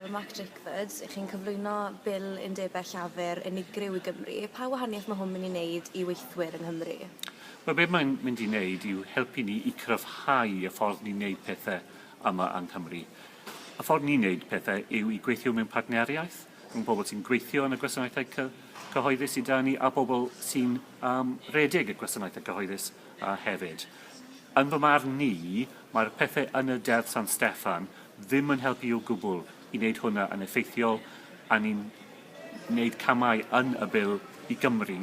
Mark Drakeford, ych chi'n cyflwyno Bil Undebau Llafur unigryw i Gymru. Pa wahaniaeth mae hwn mynd i wneud i weithwyr yng Nghymru? Wel, be mae'n mynd i wneud yw helpu ni i cryfhau y ffordd ni'n wneud pethau yma yng Nghymru. Y ffordd ni'n wneud pethau yw i gweithio mewn partneriaeth rhwng pobl sy'n gweithio yn y gwasanaethau cyhoeddus sydd 'da ni a bobl sy'n um, redeg y gwasanaethau cyhoeddus uh, hefyd. Yn fy marn ni, mae'r pethau yn y Deddf San Steffan ddim yn helpu o gwbl i wneud hwnna yn effeithiol, a ni'n wneud camau yn y Bil i Gymru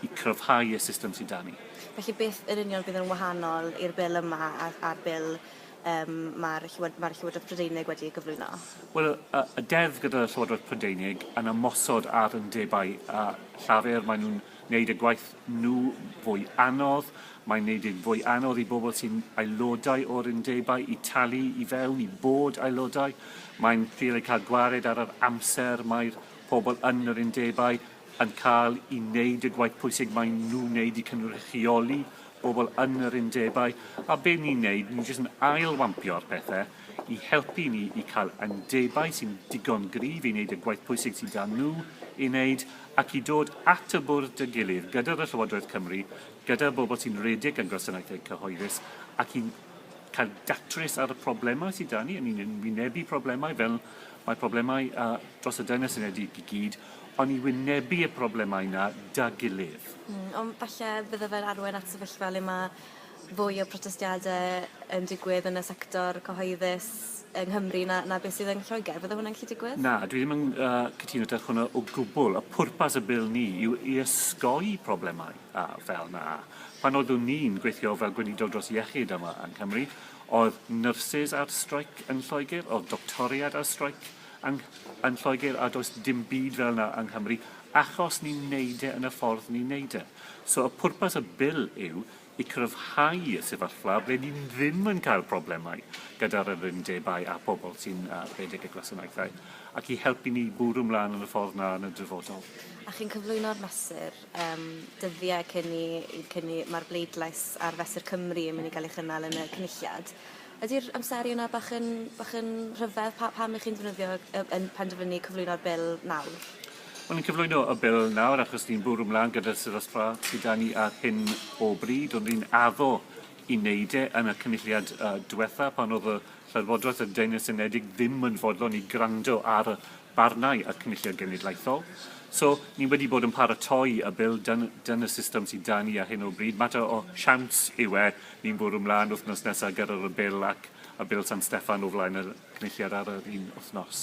i cryfhau y system sydd 'da ni. Felly, beth yn union fydd yn wahanol i'r Bil yma a'r Bil yym mae'r Llywodraeth Prydeinig wedi ei gyflwyno? Wel, y deddf gyda'r Llywodraeth Prydeinig yn ymosod ar undebau a Llafur, maen nhw'n wneud y gwaith nhw fwy anodd, mae'n wneud yn fwy anodd i bobl sy'n aelodau o'r undebau i talu i fewn, i fod aelodau, mae'n ffili cael gwared ar yr amser mae'r pobl yn yr undebau yn cael i wneud y gwaith pwysig mae nhw'n wneud i cynrychioli bobl yn yr undebau, a be ni'n wneud, ni'n jyst yn ail-wampio'r pethau. i helpu ni i cael undebau sy'n digon gryf i wneud y gwaith pwysig sydd 'da nhw ei wneud ac i dod at y bwrdd â'i gilydd gyda fy Llywodraeth Cymru, gyda'r bobl sy'n rhedeg ein gwasanaethau cyhoeddus ac i cael datrys ar y problemau sydd 'da ni. Y'n ni'n wynebu problemau fel mae problemau uh, dros y Deyrnas Unedig i gyd, ond i wynebu y problemau yna 'da gilydd. Mm, ond falle bydde fe'n arwain at sefyllfa le mae fwy o protestiade yn digwydd yn y sector cyhoeddus yng Nghymru na, na beth sydd yn Lloegr. Fydde hwnna'n gallu digwydd? Na, dwi ddim yn uh, cytuno da hwnna o gwbl. Y pwrpas y bil ni yw i ysgoi problemau a fel na. Pan oeddwn ni'n gweithio fel gweinidog dros iechyd yma yng Nghymru, oedd nyrsys ar streic yn Lloegr, oedd doctoriad ar streic yn, yn Lloegr, a does dim byd fel na yng Nghymru, achos ni'n neud e yn y ffordd ni'n neud e. So y pwrpas y bil yw i gryfhau y sefyllfa ble ni ddim yn cael problemau gyda'r yr undebau a phobl sy'n uh, rhedeg y gwasanaethau, ac i helpu ni bwrw mlaen yn y ffordd na yn y dyfodol. A chi'n cyflwyno'r mesur um, dyddiau cyn i, cyn i mae'r bleidlais ar Fesur Cymru yn mynd i gael ei chynnal yn y cynulliad. Ydi'r amseru yna bach yn bach yn rhyfedd? Pa- pam 'ych chi'n defnyddio yy yn penderfynu cyflwyno'r Bil nawr? Wel ni'n cyflwyno y Bil nawr achos ni'n bwrw mlan gyda'r sefyllfa sy 'da ni ar hyn o bryd. Ond ni'n addo i wneud e yn y Cynulliad yy dwetha pan o'dd y Llywodraeth y Deyrnas Unedig ddim yn fodlon i grando ar y barnau a'r Cynulliad Genedlaethol. So, ni wedi bod yn paratoi y Bil, dyna'r system sydd 'da ni ar hyn o bryd. Mater o siawns yw e, ni'n bwrw mlaen wythnos nesaf gyda'r Bil ac y Bil San Steffan o flaen y Cynulliad ar yr un wythnos.